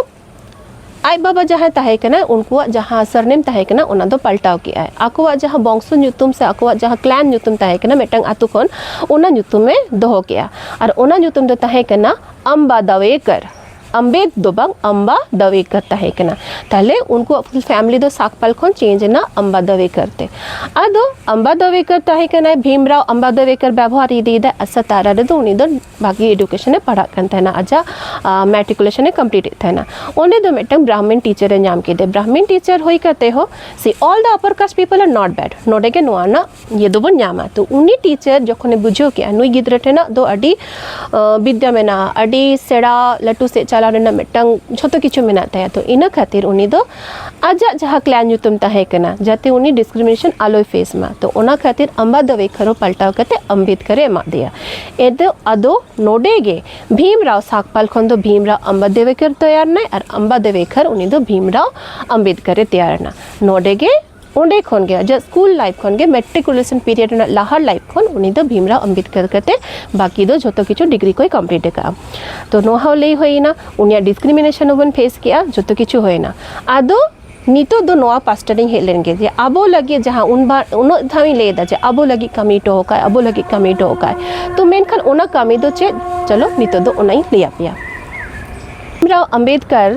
ᱟᱡ ᱵᱟᱵᱟ ᱡᱟᱦᱟᱸᱭ ᱛᱟᱦᱮᱸ ᱠᱟᱱᱟᱭ ᱩᱱᱠᱩᱣᱟᱜ ᱡᱟᱦᱟᱸ ᱥᱟᱨᱱᱮᱢ ᱛᱟᱦᱮᱸ ᱠᱟᱱᱟ ᱚᱱᱟ ᱫᱚ ᱯᱟᱞᱴᱟᱣ ᱠᱮᱜ ᱟᱭ ᱟᱠᱚᱣᱟᱜ ᱡᱟᱦᱟᱸ ᱵᱚᱝᱥᱚ ᱧᱩᱛᱩᱢ ᱥᱮ ᱟᱠᱚᱣᱟᱜ ᱡᱟᱦᱟᱸ ᱠᱞᱟᱱ ᱧᱩᱛᱩᱢ ᱛᱟᱦᱮᱸ ᱠᱟᱱᱟ ᱢᱤᱫᱴᱟᱝ ᱟᱛᱳ ᱠᱷᱚᱱ ᱚᱱᱟ ᱧᱩᱛᱩᱢᱮ ᱫᱚᱦᱚ ᱠᱮᱜᱼᱟ ᱟᱨ ᱚᱱᱟ ᱧᱩᱛᱩᱢ ᱫᱚ ᱛᱟᱦᱮᱸ ᱠᱟᱱᱟ ᱟᱢᱵᱟᱫᱟᱣᱮᱠᱟᱨ ᱟᱢᱵᱮᱫ ᱫᱚ ᱵᱟᱝ ᱟᱢᱵᱟ ᱫᱟᱣᱮᱠᱟᱨ ᱛᱟᱦᱮᱸ ᱠᱟᱱᱟ ᱛᱟᱦᱞᱮ ᱩᱱᱠᱩᱣᱟᱜ ᱯᱷᱩᱞ ᱯᱷᱮᱢᱤᱞᱤ ᱫᱚ ᱥᱟᱠᱯᱟᱞ ᱠᱷᱚᱱ ᱪᱮᱧᱡᱽ ᱮᱱᱟ ᱟᱢᱵᱟ ᱫᱟᱣᱮᱠᱟᱨ ᱛᱮ ᱟᱫᱚ ᱟᱢᱵᱟ ᱫᱟᱣᱮᱠᱟᱨ ᱛᱟᱦᱮᱸ ᱠᱟᱱᱟᱭ ᱵᱷᱤᱢᱨᱟᱣ ᱟᱢᱵᱟ ᱫᱟᱣᱮᱠᱟᱨ ᱵᱮᱵᱚᱦᱟᱨ ᱤᱫᱤᱭᱮᱫᱟ ᱟᱥᱟ ᱛᱟᱨᱟ ᱨᱮᱫᱚ ᱩᱱᱤ ᱫᱚ ᱵᱷᱟᱜᱮ ᱮᱰᱩᱠᱮᱥᱚᱱ ᱮ ᱯᱟᱲᱦᱟᱜ ᱠᱟᱱ ᱛᱟᱦᱮᱱᱟ ᱟᱡᱟᱜ ᱢᱮᱴᱨᱤᱠᱩᱞᱮᱥᱚᱱ ᱮ ᱠᱚᱢᱯᱞᱤᱴ ᱮᱫ ᱛᱟᱦᱮᱱᱟ ᱚᱸᱰᱮ ᱫᱚ ᱢᱤᱫᱴᱟᱝ ᱵᱨᱟᱦᱢᱤᱱ ᱴᱤᱪᱟᱨ ᱮ ᱧᱟᱢ ᱠᱮᱫᱮ ᱵᱨᱟᱦᱢᱤᱱ ᱴᱤᱪᱟᱨ ᱦᱩᱭ ᱠᱟᱛᱮ ᱦᱚᱸ ᱥᱮ all the upper caste people R not bad ᱱᱚᱰᱮ ᱜᱮ ᱱᱚᱣᱟ ᱨᱮᱱᱟᱜ ᱤᱭᱟᱹ ᱫᱚᱵᱚᱱ ᱧᱟᱢᱟ ᱛᱚ ᱩᱱᱤ ᱴᱤᱪᱟᱨ ᱡᱚᱠᱷᱚᱱᱮ ᱵᱩᱡᱷᱟᱹᱣ ᱠᱮᱜᱼᱟ ᱱᱩᱭ ᱜᱤᱫᱽᱨᱟᱹ ᱴᱷᱮᱱᱟᱜ ᱫᱚ ᱟᱹᱰᱤ ᱵᱤᱫᱽᱫᱟ ᱢᱮᱱᱟᱜᱼᱟ ᱟᱹᱰᱤ ᱥᱮᱬᱟ ᱞᱟᱹᱴᱩ ᱥᱮᱫ ᱪᱟᱞᱟᱣ ᱨᱮᱱᱟᱜ ᱢᱤᱫᱴᱟᱝ ᱡᱷᱚᱛᱚ ᱠᱤᱪᱷᱩ ᱢᱮᱱᱟᱜ ᱛᱟᱭᱟ ᱛᱚ ᱤᱱᱟᱹ ᱠᱷᱟᱹᱛᱤᱨ ᱩᱱᱤ ᱫᱚ ᱟᱡᱟᱜ ᱡᱟᱦᱟᱸ ᱠᱞᱟᱥ ᱧᱩᱛᱩᱢ ᱛᱟᱦᱮᱸ ᱠᱟᱱᱟ ᱡᱟᱛᱮ ᱩᱱᱤ ᱰᱤᱥᱠᱨᱤᱢᱤᱱᱮᱥᱚᱱ ᱟᱞᱚᱭ ᱯᱷᱮᱥ ᱢᱟ ᱛᱚ ᱚᱱᱟ ᱠᱷᱟᱹᱛᱤᱨ ᱟᱢᱵᱟᱫᱚᱵᱮ ᱠᱷᱟᱨᱚ ᱯᱟᱞᱴᱟᱣ ᱠᱟᱛᱮ ᱟᱢᱵᱮᱫᱠᱟᱨᱮ ᱮᱢᱟᱜ ᱫᱮᱭᱟ ᱮᱫᱚ ᱟᱫᱚ ᱱᱚᱰᱮ ᱜᱮ ᱵᱷᱤᱢᱨᱟᱣ ᱥᱟᱠᱯᱟᱞ ᱠᱷᱚᱱ ᱫᱚ ᱵᱷᱤᱢᱨᱟᱣ ᱟᱢᱵᱟᱫᱮᱵᱮᱠᱟᱨ ᱛᱮᱭᱟᱨ ᱱᱟᱭ ᱟᱨ ᱟᱢᱵᱟᱫᱮᱵᱮᱠᱟᱨ ᱩᱱᱤ ᱫᱚ ᱵᱷᱤᱢᱨᱟᱣ ᱟᱢᱵᱮᱫᱠᱟᱨᱮ ᱛᱮᱭᱟᱨ ᱮᱱᱟ ᱱᱚᱰᱮ ᱜᱮ ᱚᱸᱰᱮ ᱠᱷᱚᱱ ᱜᱮ ᱟᱡᱟᱜ ᱥᱠᱩᱞ ᱞᱟᱭᱤᱯᱷ ᱠᱷᱚᱱ ᱜᱮ ᱢᱮᱴᱨᱤᱠᱩᱞᱮᱥᱚᱱ ᱯᱤᱨᱤᱭᱚᱰ ᱨᱮᱱᱟᱜ ᱞᱟᱦᱟ ᱞᱟᱭᱤᱯᱷ ᱠᱷᱚᱱ ᱩᱱᱤ ᱫᱚ ᱵᱷᱤᱢᱨᱟᱣ ᱟᱢᱵᱮᱫᱠᱚᱨ ᱠᱟᱛᱮ ᱵᱟᱹᱠᱤ ᱫᱚ ᱡᱷᱚᱛᱚ ᱠᱤᱪᱷᱩ ᱰᱤᱜᱽᱨᱤ ᱠᱚᱭ ᱠᱚᱢᱯᱞᱤᱴ ᱟᱠᱟᱫᱼᱟ ᱛᱚ ᱱᱚᱣᱟ ᱦᱚᱸ ᱞᱟᱹᱭ ᱦᱩᱭᱮᱱᱟ ᱩᱱᱤᱭᱟᱜ ᱰᱤᱥᱠᱨᱤᱢᱤᱱᱮᱥᱚᱱ ᱦᱚᱸᱵᱚᱱ ᱯᱷᱮᱥ ᱠᱮᱜᱼᱟ ᱡᱷᱚᱛᱚ ᱠᱤᱪᱷᱩ ᱦᱩᱭᱮᱱᱟ ᱟᱫᱚ ᱱᱤᱛᱚᱜ ᱫᱚ ᱱᱚᱣᱟ ᱯᱟᱥᱴᱟ ᱨᱤᱧ ᱦᱮᱡ ᱞᱮᱱ ᱜᱮ ᱡᱮ ᱟᱵᱚ ᱞᱟᱹᱜᱤᱫ ᱡᱟᱦᱟᱸ ᱩᱱ ᱵᱟᱨ ᱩᱱᱟᱹᱜ ᱫᱷᱟᱣ ᱤᱧ ᱞᱟᱹᱭᱫᱟ ᱡᱮ ᱟᱵᱚ ᱞᱟᱹᱜᱤᱫ ᱠᱟᱹᱢᱤ ᱦᱚᱴᱚ ᱟᱠᱟᱫ ᱟᱵᱚ ᱞᱟᱹᱜᱤᱫ ᱠᱟᱹᱢᱤ ᱦᱚᱴᱚ ᱟᱠᱟᱫ ᱛᱚ ᱢᱮᱱᱠᱷᱟᱱ ᱚᱱᱟ ᱠᱟᱹᱢᱤ ᱫᱚ ᱪᱮᱫ ᱪᱚᱞᱚ ᱱᱤᱛᱚᱜ ᱫᱚ ᱚᱱᱟᱧ ᱞᱟᱹᱭᱟᱯᱮᱭᱟ ᱵᱷᱤᱢᱨᱟᱣ ᱟᱢᱵᱮᱫᱠᱚᱨ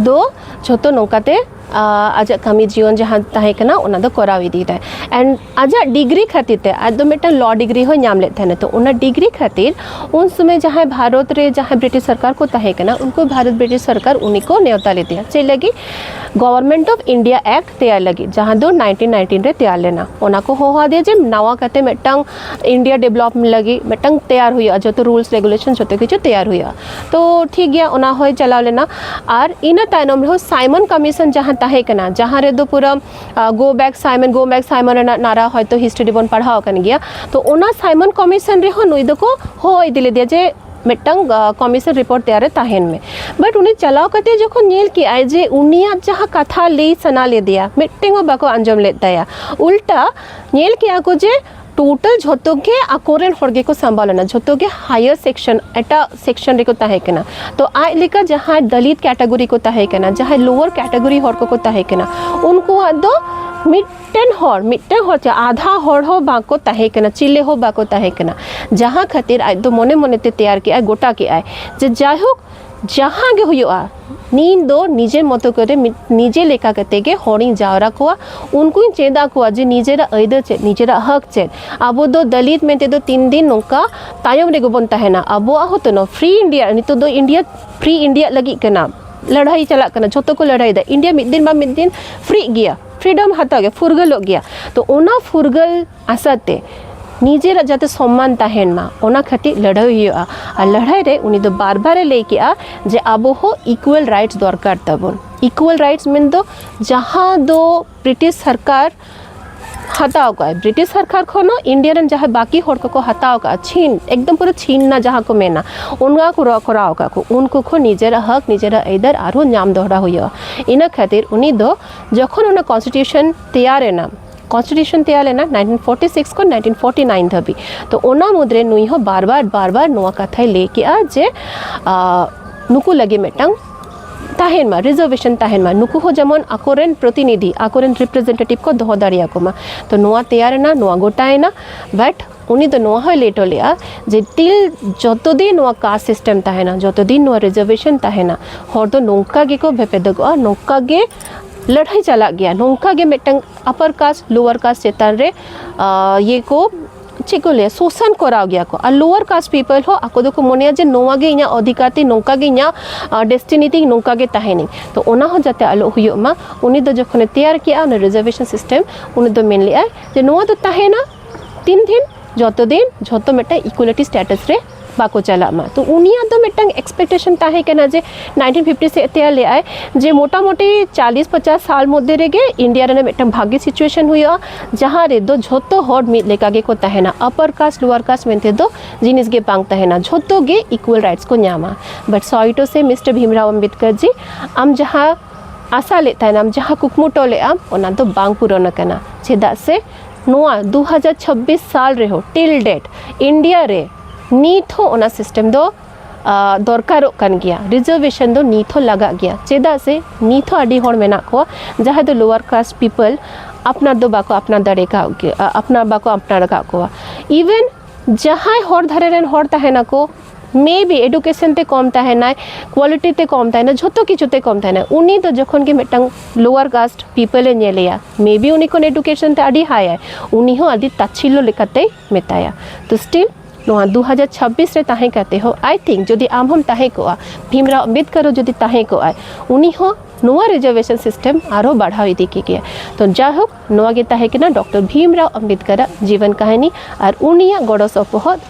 ᱫᱚ ᱡᱷᱚᱛᱚ ᱱᱚᱝᱠᱟᱛᱮ ᱟᱡᱟᱜ ᱠᱟᱹᱢᱤ ᱡᱤᱭᱚᱱ ᱡᱟᱦᱟᱸ ᱛᱟᱦᱮᱸ ᱠᱟᱱᱟ ᱚᱱᱟ ᱫᱚ ᱠᱚᱨᱟᱣ ᱤᱫᱤᱭᱮᱫᱟᱭ ᱮᱱᱰ ᱟᱡᱟᱜ ᱰᱤᱜᱽᱨᱤ ᱠᱷᱟᱹᱛᱤᱨ ᱛᱮ ᱟᱡ ᱫᱚ ᱢᱤᱫᱴᱟᱝ ᱞᱚ ᱰᱤᱜᱽᱨᱤ ᱦᱚᱸ ᱧᱟᱢ ᱞᱮᱫ ᱛᱟᱦᱮᱱᱟ ᱛᱚ ᱚᱱᱟ ᱰᱤᱜᱽᱨᱤ ᱠᱷᱟᱹᱛᱤᱨ ᱩᱱ ᱥᱚᱢᱚᱭ ᱡᱟᱦᱟᱸᱭ ᱵᱷᱟᱨᱚᱛ ᱨᱮ ᱡᱟᱦᱟᱸᱭ ᱵᱨᱤᱴᱤᱥ ᱥᱚᱨᱠᱟᱨ ᱠᱚ ᱛᱟᱦᱮᱸ ᱠᱟᱱᱟ ᱩᱱᱠᱩ ᱵᱷᱟᱨᱚᱛ ᱵᱨᱤᱴᱤᱥ ᱥᱚᱨᱠᱟᱨ ᱩᱱᱤ ᱠᱚ ᱱᱮᱣᱛᱟ ᱞᱮᱫᱮᱭᱟ ᱪᱮᱫ ᱞᱟᱹᱜᱤᱫ ᱜᱚᱵᱷᱚᱨᱱᱢᱮᱱᱴ ᱚᱯᱷ ᱤᱱᱰᱤᱭᱟ ᱮᱠᱴ ᱛᱮᱭᱟᱨ ᱞᱟᱹᱜᱤᱫ ᱡᱟᱦᱟᱸ ᱫᱚ ᱱᱟᱭᱤᱱᱴᱤᱱ ᱱᱟᱭᱤᱱᱴᱤᱱ ᱨᱮ ᱛᱮᱭᱟᱨ ᱞᱮᱱᱟ ᱚᱱᱟ ᱠᱚ ᱦᱚᱦᱚᱣᱟᱫᱮᱭᱟ ᱡᱮ ᱱᱟᱣᱟ ᱠᱟᱛᱮ ᱢᱤᱫᱴᱟᱝ ᱤᱱᱰᱤᱭᱟ ᱰᱮᱵᱷᱞᱚᱯᱢᱮᱱᱴ ᱞᱟᱹᱜᱤᱫ ᱢᱤᱫᱴᱟᱝ ᱛᱮᱭᱟᱨ ᱦᱩᱭᱩᱜᱼᱟ ᱡᱚᱛᱚ ᱨᱩᱞᱥ ᱨᱮᱜᱩᱞᱮᱥᱚᱱ ᱡᱚᱛᱚ ᱠᱤᱪᱷᱩ ᱛᱮᱭᱟᱨ ᱦᱩᱭᱩᱜᱼᱟ ᱛᱚ ᱴᱷᱤᱠ ᱜᱮᱭᱟ ᱚᱱᱟ ᱦᱚᱸᱭ ᱪᱟᱞᱟᱣ ᱞᱮᱱᱟ ᱟᱨ ᱤᱱᱟᱹ ᱛᱟᱭᱱᱚᱢ ᱨᱮᱦᱚᱸ ᱥᱟᱭᱢᱚᱱ ᱠᱚᱢᱤᱥᱚᱱ ᱡᱟᱦᱟᱸ ᱛᱟᱦᱮᱸ ᱠᱟᱱᱟ ᱡᱟᱦᱟᱸ ᱨᱮᱫᱚ ᱯᱩᱨᱟᱹ ᱜᱳ ᱵᱮᱠ ᱥᱟᱭᱢᱚᱱ ᱜᱳ ᱵᱮᱠ ᱥᱟᱭᱢᱚᱱ ᱨᱮᱱᱟᱜ ᱱᱟᱨᱟ ᱦᱚᱭᱛᱳ ᱦᱤᱥᱴᱨᱤ ᱨᱮᱵᱚᱱ ᱯᱟᱲᱦᱟᱣ ᱟᱠᱟᱱ ᱜᱮᱭᱟ ᱛᱚ ᱚᱱᱟ ᱥᱟᱭᱢᱚᱱ ᱠᱚᱢᱤᱥᱚᱱ ᱨᱮᱦᱚᱸ ᱱᱩᱭ ᱫᱚᱠᱚ ᱦᱚᱦᱚ ᱤᱫᱤ ᱞᱮᱫᱮᱭᱟ ᱡᱮ ᱢᱤᱫᱴᱟᱝ ᱠᱚᱢᱤᱥᱚᱱ ᱨᱤᱯᱳᱨᱴ ᱛᱮᱭᱟᱨ ᱨᱮ ᱛᱟᱦᱮᱱ ᱢᱮ ᱵᱟᱴ ᱩᱱᱤ ᱪᱟᱞᱟᱣ ᱠᱟᱛᱮ ᱡᱚᱠᱷᱚᱱ ᱧᱮᱞ ᱠᱮᱜᱼᱟᱭ ᱡᱮ ᱩᱱᱤᱭᱟᱜ ᱡᱟᱦᱟᱸ ᱠᱟᱛᱷᱟ ᱞᱟᱹᱭ ᱥᱟᱱᱟ ᱞᱮᱫᱮᱭᱟ ᱢᱤᱫᱴᱮᱱ ᱦᱚᱸ ᱵᱟᱠᱚ ᱟᱸᱡᱚᱢ ᱞᱮᱫ ᱛᱟᱭᱟ ᱩᱞᱴᱟ ᱧᱮᱞ ᱠᱮᱜᱼᱟ ᱠᱚ ᱡᱮ ᱴᱳᱴᱟᱞ ᱡᱷᱚᱛᱚ ᱜᱮ ᱟᱠᱚᱨᱮᱱ ᱦᱚᱲ ᱜᱮᱠᱚ ᱥᱟᱢᱵᱟᱣ ᱞᱮᱱᱟ ᱡᱷᱚᱛᱚ ᱜᱮ ᱦᱟᱭᱟᱨ ᱥᱮᱠᱥᱚᱱ ᱮᱴᱟᱜ ᱥᱮᱠᱥᱚᱱ ᱨᱮᱠᱚ ᱛᱟᱦᱮᱸ ᱠᱟᱱᱟ ᱛᱚ ᱟᱡ ᱞᱮᱠᱟ ᱡᱟᱦᱟᱸᱭ ᱫᱟᱞᱤᱛ ᱠᱮᱴᱟᱜᱚᱨᱤ ᱠᱚ ᱛᱟᱦᱮᱸ ᱠᱟᱱᱟ ᱡᱟᱦᱟᱸᱭ ᱞᱳᱣᱟᱨ ᱠᱮᱴᱟᱜᱚᱨᱤ ᱦᱚᱲ ᱠᱚᱠᱚ ᱛᱟᱦᱮᱸ ᱠᱟᱱᱟ ᱩᱱᱠᱩᱣᱟᱜ ᱫᱚ ᱢᱤᱫᱴᱮᱱ ᱦᱚᱲ ᱢᱤᱫᱴᱮᱱ ᱦᱚᱲ ᱪᱮ ᱟᱫᱷᱟ ᱦᱚᱲ ᱦᱚᱸ ᱵᱟᱠᱚ ᱛᱟᱦᱮᱸ ᱠᱟᱱᱟ ᱪᱤᱞᱮ ᱦᱚᱸ ᱵᱟᱠᱚ ᱛᱟᱦᱮᱸ ᱠᱟᱱᱟ ᱡᱟᱦᱟᱸ ᱠᱷᱟᱹᱛᱤᱨ ᱟᱡ ᱫᱚ ᱢᱚᱱᱮ ᱢᱚᱱᱮᱛᱮ ᱛᱮᱭᱟᱨ ᱠᱮᱜᱼᱟᱭ ᱜᱚᱴᱟ ᱠᱮᱜᱼᱟᱭ ᱡᱮ ᱡᱟᱭᱦᱳᱠ ᱡᱟᱦᱟᱸ ᱜᱮ ᱦᱩᱭᱩᱜᱼᱟ ᱱᱤᱧ ᱫᱚ ᱱᱤᱡᱮᱨ ᱢᱚᱛᱚ ᱠᱚᱨᱮ ᱱᱤᱡᱮ ᱞᱮᱠᱟ ᱠᱟᱛᱮ ᱜᱮ ᱦᱚᱲᱤᱧ ᱡᱟᱣᱨᱟ ᱠᱚᱣᱟ ᱩᱱᱠᱩᱧ ᱪᱮᱫ ᱟᱠᱚᱣᱟ ᱡᱮ ᱱᱤᱡᱮᱨᱟᱜ ᱟᱹᱭᱫᱟᱹᱨ ᱪᱮᱫ ᱱᱤᱡᱮᱨᱟᱜ ᱦᱚᱠ ᱪᱮᱫ ᱟᱵᱚ ᱫᱚ ᱫᱟᱹᱞᱤᱛ ᱢᱮᱱᱛᱮ ᱫᱚ ᱛᱤᱱ ᱫᱤᱱ ᱱᱚᱝᱠᱟ ᱛᱟᱭᱚᱢ ᱨᱮᱜᱮ ᱵᱚᱱ ᱛᱟᱦᱮᱱᱟ ᱟᱵᱚᱣᱟᱜ ᱦᱚᱸ ᱛᱚᱱᱚ ᱯᱷᱨᱤ ᱤᱱᱰᱤᱭᱟ ᱱᱤᱛᱚᱜ ᱫᱚ ᱤᱱᱰᱤᱭᱟ ᱯᱷᱨᱤ ᱤᱱᱰᱤᱭᱟ ᱞᱟᱹᱜᱤᱫ ᱠᱟᱱᱟ ᱞᱟᱹᱲᱦᱟᱹᱭ ᱪᱟᱞᱟᱜ ᱠᱟᱱᱟ ᱡᱷᱚᱛᱚ ᱠᱚ ᱞᱟᱹᱲᱦᱟᱹᱭᱮᱫᱟ ᱤᱱᱰᱤᱭᱟ ᱢᱤᱫ ᱫᱤᱱ ᱵᱟᱝ ᱢᱤᱫ ᱫᱤᱱ ᱯᱷᱨᱤᱜ ᱜᱮᱭᱟ ᱯᱷᱨᱤᱰᱚᱢ ᱦᱟᱛᱟᱣ ᱜᱮ ᱯᱷᱩᱨᱜᱟᱹᱞᱚᱜ ᱜᱮᱭᱟ ᱛᱚ ᱚᱱᱟ ᱯᱷᱩᱨᱜᱟᱹᱞ ᱟᱥᱟᱛᱮ ᱱᱤᱡᱮᱨᱟᱜ ᱡᱟᱛᱮ ᱥᱚᱢᱢᱟᱱ ᱛᱟᱦᱮᱱ ᱢᱟ ᱚᱱᱟ ᱠᱷᱟᱹᱛᱤᱨ ᱞᱟᱹᱲᱦᱟᱹᱭ ᱦᱩᱭᱩᱜᱼᱟ ᱟᱨ ᱞᱟᱹᱲᱦᱟᱹᱭ ᱨᱮ ᱩᱱᱤ ᱫᱚ ᱵᱟᱨ ᱵᱟᱨᱮ ᱞᱟᱹᱭ ᱠᱮᱜᱼᱟ ᱡᱮ ᱟᱵᱚ ᱦᱚᱸ ᱤᱠᱩᱣᱟᱞ ᱨᱟᱭᱤᱴᱥ ᱫᱚᱨᱠᱟᱨ ᱛᱟᱵᱚᱱ ᱤᱠᱩᱣᱟᱞ ᱨᱟᱭᱤᱴᱥ ᱢᱮᱱ ᱫᱚ ᱡᱟᱦᱟᱸ ᱫᱚ ᱵᱨᱤᱴᱤᱥ ᱥᱚᱨᱠᱟᱨ ᱦᱟᱛᱟᱣ ᱠᱟᱜᱼᱟᱭ ᱵᱨᱤᱴᱤᱥ ᱥᱚᱨᱠᱟᱨ ᱠᱷᱚᱱ ᱦᱚᱸ ᱤᱱᱰᱤᱭᱟ ᱨᱮᱱ ᱡᱟᱦᱟᱸᱭ ᱵᱟᱹᱠᱤ ᱦᱚᱲ ᱠᱚᱠᱚ ᱦᱟᱛᱟᱣ ᱠᱟᱜᱼᱟ ᱪᱷᱤᱱ ᱮᱠᱫᱚᱢ ᱯᱩᱨᱟᱹ ᱪᱷᱤᱱᱱᱟ ᱡᱟᱦᱟᱸ ᱠᱚ ᱢᱮᱱᱟ ᱚᱱᱟ ᱠᱚ ᱠᱚᱨᱟᱣ ᱠᱟᱜ ᱠᱚ ᱩᱱᱠᱩ ᱠᱷᱚᱱ ᱱᱤᱡᱮᱨᱟᱜ ᱦᱚᱠ ᱱᱤᱡᱮᱨᱟᱜ ᱟᱹᱭᱫᱟᱹᱨ ᱟᱨᱦᱚᱸ ᱧᱟᱢ ᱫᱚᱦᱲᱟ ᱦᱩᱭᱩᱜᱼᱟ ᱤᱱᱟᱹ ᱠᱷᱟᱹᱛᱤᱨ ᱩᱱᱤ ᱫᱚ ᱡᱚᱠᱷᱚᱱ ᱚᱱᱟ ᱠᱚᱱᱥᱴᱤᱴᱤᱭᱩᱥᱚᱱ ᱛᱮᱭᱟᱨᱮᱱᱟ ᱠᱚᱱᱥᱴᱤᱴᱤᱭᱩᱥᱚᱱ ᱛᱮᱭᱟᱨ ᱞᱮᱱᱟ 1946 ᱠᱷᱚᱱ 1949 ᱫᱷᱟᱹᱵᱤᱡ ᱛᱚ ᱚᱱᱟ ᱢᱩᱫᱽᱨᱮ ᱱᱩᱭ ᱦᱚᱸ ᱵᱟᱨ ᱵᱟᱨ ᱵᱟᱨ ᱵᱟᱨ ᱱᱚᱣᱟ ᱠᱟᱛᱷᱟᱭ ᱞᱟᱹᱭ ᱠᱮᱜᱼᱟ ᱡᱮ ᱱᱩᱠᱩ ᱞᱟᱹᱜᱤᱫ ᱢᱤᱫᱴᱟᱝ ᱛᱟᱦᱮᱱ ᱢᱟ ᱨᱤᱡᱟᱨᱵᱷᱮᱥᱚᱱ ᱛᱟᱦᱮᱱ ᱢᱟ ᱱᱩᱠᱩ ᱦᱚᱸ ᱡᱮᱢᱚᱱ ᱟᱠᱚᱨᱮᱱ ᱯᱨᱚᱛᱤᱱᱤᱫᱷᱤ ᱟᱠᱚᱨᱮᱱ ᱨᱤᱯᱨᱮᱡᱮᱱᱴᱮᱴᱤᱵᱷ ᱠᱚ ᱫᱚᱦᱚ ᱫᱟᱲᱮᱭᱟᱠᱚ ᱢᱟ ᱛᱚ ᱱᱚᱣᱟ ᱛᱮᱭᱟᱨᱮᱱᱟ ᱱᱚᱣᱟ ᱜᱚᱴᱟᱭᱮᱱᱟ ᱵᱟᱴ ᱩᱱᱤ ᱫᱚ ᱱᱚᱣᱟ ᱦᱚᱸᱭ ᱞᱟᱹᱭ ᱦᱚᱴᱚ ᱞᱮᱫᱼᱟ ᱡᱮ ᱴᱤᱞ ᱡᱚᱛᱚ ᱫᱤᱱ ᱱᱚᱣᱟ ᱠᱟᱥᱴ ᱥᱤᱥᱴᱮᱢ ᱛᱟᱦᱮᱱᱟ ᱡᱚᱛᱚ ᱫᱤᱱ ᱱᱚᱣᱟ ᱨᱤᱡᱟᱨᱵᱷᱮᱥᱚᱱ ᱛᱟᱦᱮᱱᱟ ᱦᱚᱲ ᱫᱚ ᱱᱚᱝᱠᱟ ᱜᱮᱠᱚ ᱵᱷᱮᱯᱮᱫᱚᱜᱚᱜᱼᱟ ᱱᱚᱝᱠᱟ ᱜᱮ ᱞᱟᱹᱲᱦᱟᱹᱭ ᱪᱟᱞᱟᱜ ᱜᱮᱭᱟ ᱱᱚᱝᱠᱟ ᱜᱮ ᱢᱤᱫᱴᱟᱝ ᱟᱯᱟᱨ ᱠᱟᱥᱴ ᱞᱳᱣᱟᱨ ᱠᱟᱥᱴ ᱪᱮᱛᱟᱱ ᱨᱮ ᱤᱭᱟᱹ ᱠᱚ ᱪᱮᱫ ᱠᱚ ᱞᱟᱹᱭᱟ ᱥᱳᱥᱟᱱ ᱠᱚᱨᱟᱣ ᱜᱮᱭᱟ ᱠᱚ ᱟᱨ ᱞᱳᱣᱟᱨ ᱠᱟᱥᱴ ᱯᱤᱯᱚᱞ ᱦᱚᱸ ᱟᱠᱚ ᱫᱚᱠᱚ ᱢᱚᱱᱮᱭᱟ ᱡᱮ ᱱᱚᱣᱟ ᱜᱮ ᱤᱧᱟᱹᱜ ᱚᱫᱷᱤᱠᱟᱨ ᱛᱤᱧ ᱱᱚᱝᱠᱟ ᱜᱮ ᱤᱧᱟᱹᱜ ᱰᱮᱥᱴᱤᱱᱤ ᱛᱤᱧ ᱱᱚᱝᱠᱟ ᱜᱮ ᱛᱟᱦᱮᱱᱤᱧ ᱛᱚ ᱚᱱᱟ ᱦᱚᱸ ᱡᱟᱛᱮ ᱟᱞᱚ ᱦᱩᱭᱩᱜ ᱢᱟ ᱩᱱᱤ ᱫᱚ ᱡᱚᱠᱷᱚᱱᱮ ᱛᱮᱭᱟᱨ ᱠᱮᱜᱼᱟ ᱚᱱᱟ ᱨᱤᱡᱟᱨᱵᱷᱮᱥᱚᱱ ᱥᱤᱥᱴᱮᱢ ᱩᱱᱤ ᱫᱚ ᱢᱮᱱ ᱞᱮᱜᱼᱟᱭ ᱡᱮ ᱱᱚᱣᱟ ᱫᱚ ᱛᱟᱦᱮᱱᱟ ᱛᱤᱱ ᱫᱤᱱ ᱡᱚᱛᱚ ᱫᱤᱱ ᱡᱷᱚᱛᱚ ᱢᱤᱫᱴᱟᱝ ᱤᱠᱩᱭᱮᱞᱤᱴᱤ ᱥᱴᱮᱴᱟᱥ ᱨᱮ ᱵᱟᱠᱚ ᱪᱟᱞᱟᱜ ᱢᱟ ᱛᱚ ᱩᱱᱤᱭᱟᱜ ᱫᱚ ᱢᱤᱫᱴᱟᱝ ᱮᱠᱥᱯᱮᱠᱴᱮᱥᱚᱱ ᱛᱟᱦᱮᱸ ᱠᱟᱱᱟ ᱡᱮ ᱱᱟᱭᱤᱱᱴᱤᱱ ᱯᱷᱤᱯᱴᱤ ᱥᱮᱫ ᱛᱮᱭᱟᱨ ᱞᱮᱫᱟᱭ ᱡᱮ ᱢᱳᱴᱟᱢᱩᱴᱤ ᱪᱟᱞᱤᱥ ᱯᱚᱪᱟᱥ ᱥᱟᱞ ᱢᱚᱫᱽᱫᱷᱮ ᱨᱮᱜᱮ ᱤᱱᱰᱤᱭᱟ ᱨᱮᱱᱟᱜ ᱢᱤᱫᱴᱟᱝ ᱵᱷᱟᱜᱮ ᱥᱤᱪᱩᱭᱮᱥᱚᱱ ᱦᱩᱭᱩᱜᱼᱟ ᱡᱟᱦᱟᱸ ᱨᱮᱫᱚ ᱡᱷᱚᱛᱚ ᱦᱚᱲ ᱢᱤᱫ ᱞᱮᱠᱟ ᱜᱮᱠᱚ ᱛᱟᱦᱮᱱᱟ ᱟᱯᱟᱨ ᱠᱟᱥᱴ ᱞᱳᱣᱟᱨ ᱠᱟᱥᱴ ᱢᱮᱱᱛᱮ ᱫᱚ ᱡᱤᱱᱤᱥ ᱜᱮ ᱵᱟᱝ ᱛᱟᱦᱮᱱᱟ ᱡᱷᱚᱛᱚ ᱜᱮ ᱤᱠᱩᱭᱮᱞ ᱨᱟᱭᱤᱴᱥ ᱠᱚ ᱧᱟᱢᱟ but sorry to say mister Bhimrao Ambedkar ji ᱟᱢ ᱡᱟᱦᱟᱸ ᱟᱥᱟ ᱞᱮᱫ ᱛᱟᱦᱮᱱᱟᱢ ᱡᱟᱦᱟᱸ ᱠᱩᱠᱢᱩᱴᱟᱹᱣ ᱞᱮᱫ ᱟᱢ ᱚᱱᱟ ᱫᱚ ᱵᱟᱝ ᱯᱩᱨᱚᱱ ᱟᱠᱟᱱᱟ ᱪᱮᱫᱟᱜ ᱥᱮ ᱱᱚᱣᱟ 2026 ᱥᱟᱞ ᱨᱮᱦᱚᱸ ᱴᱤᱞ ᱰᱮᱴ ᱤᱱᱰᱤᱭᱟ ᱨᱮ ᱱᱤᱛ ᱦᱚᱸ ᱚᱱᱟ ᱥᱤᱥᱴᱮᱢ ᱫᱚ ᱫᱚᱨᱠᱟᱨᱚᱜ ᱠᱟᱱ ᱜᱮᱭᱟ ᱨᱤᱡᱟᱨᱵᱷᱮᱥᱚᱱ ᱫᱚ ᱱᱤᱛ ᱦᱚᱸ ᱞᱟᱜᱟᱜ ᱜᱮᱭᱟ ᱪᱮᱫᱟᱜ ᱥᱮ ᱱᱤᱛ ᱦᱚᱸ ᱟᱹᱰᱤ ᱦᱚᱲ ᱢᱮᱱᱟᱜ ᱠᱚᱣᱟ ᱡᱟᱦᱟᱸᱭ ᱫᱚ ᱞᱳᱣᱟᱨ ᱠᱟᱥᱴ ᱯᱤᱯᱚᱞ ᱟᱯᱱᱟᱨ ᱫᱚ ᱵᱟᱠᱚ ᱟᱯᱱᱟᱨ ᱫᱟᱲᱮ ᱠᱟᱜ ᱜᱮ ᱟᱯᱱᱟᱨ ᱵᱟᱠᱚ ᱟᱯᱱᱟᱨ ᱟᱠᱟᱫ ᱠᱚᱣᱟ ᱤᱵᱷᱮᱱ ᱡᱟᱦᱟᱸᱭ ᱦᱚᱨ ᱫᱷᱟᱨᱮ ᱨᱮᱱ ᱦᱚᱲ ᱛᱟᱦᱮᱱᱟᱠᱚ ᱢᱮᱵᱤ ᱮᱰᱩᱠᱮᱥᱚᱱ ᱛᱮ ᱠᱚᱢ ᱛᱟᱦᱮᱱᱟᱭ ᱠᱣᱟᱞᱤᱴᱤ ᱛᱮ ᱠᱚᱢ ᱛᱟᱦᱮᱱᱟ ᱡᱷᱚᱛᱚ ᱠᱤᱪᱷᱩ ᱛᱮ ᱠᱚᱢ ᱛᱟᱦᱮᱱᱟ ᱩᱱᱤ ᱫᱚ ᱡᱚᱠᱷᱚᱱ ᱜᱮ ᱢᱤᱫᱴᱟᱝ ᱞᱳᱣᱟᱨ ᱠᱟᱥᱴ ᱯᱤᱯᱚᱞ ᱮ ᱧᱮᱞᱮᱭᱟ ᱢᱮᱵᱤ ᱩᱱᱤ ᱠᱷᱚᱱ ᱮᱰᱩᱠᱮᱥᱚᱱ ᱛᱮ ᱟᱹᱰᱤ ᱦᱟᱭᱟᱭ ᱩᱱᱤ ᱦᱚᱸ ᱟᱹᱰᱤ ᱛᱟᱪᱷᱤᱞᱞᱚ ᱞᱮᱠᱟᱛᱮᱭ ᱢᱮᱛᱟᱭᱟ ᱛᱚ ᱥᱴᱤᱞ ᱱᱚᱣᱟ ᱫᱩ ᱦᱟᱡᱟᱨ ᱪᱷᱟᱵᱵᱤᱥ ᱨᱮ ᱛᱟᱦᱮᱸ ᱠᱟᱛᱮ ᱦᱚᱸ ᱟᱭ ᱛᱷᱤᱝᱠ ᱡᱩᱫᱤ ᱟᱢ ᱦᱚᱢ ᱛᱟᱦᱮᱸ ᱠᱚᱜᱼᱟ ᱵᱷᱤᱢᱨᱟᱣ ᱟᱢᱵᱮᱫᱠᱚᱨ ᱦᱚᱸ ᱡᱩᱫᱤ ᱛᱟᱦᱮᱸ ᱠᱚᱜᱼᱟᱭ ᱩᱱᱤ ᱦᱚᱸ ᱱᱚᱣᱟ ᱨᱤᱡᱟᱨᱵᱷᱮᱥᱚᱱ ᱥᱤᱥᱴᱮᱢ ᱟᱨᱦᱚᱸ ᱵᱟᱲᱦᱟᱣ ᱤᱫᱤ ᱠᱮ ᱜᱮᱭᱟ ᱛᱚ ᱡᱟᱭᱦᱳᱠ ᱱᱚᱣᱟ ᱜᱮ ᱛᱟᱦᱮᱸ ᱠᱟᱱᱟ ᱰᱚᱠᱴᱚᱨ ᱵᱷᱤᱢᱨᱟᱣ ᱟᱢᱵᱮᱫᱠᱚᱨᱟᱜ ᱡᱤᱵᱚᱱ ᱠᱟᱹᱦᱱᱤ ᱟᱨ ᱩᱱᱤᱭᱟᱜ ᱜᱚᱲᱚ ᱥᱚᱯᱚᱦᱚᱫ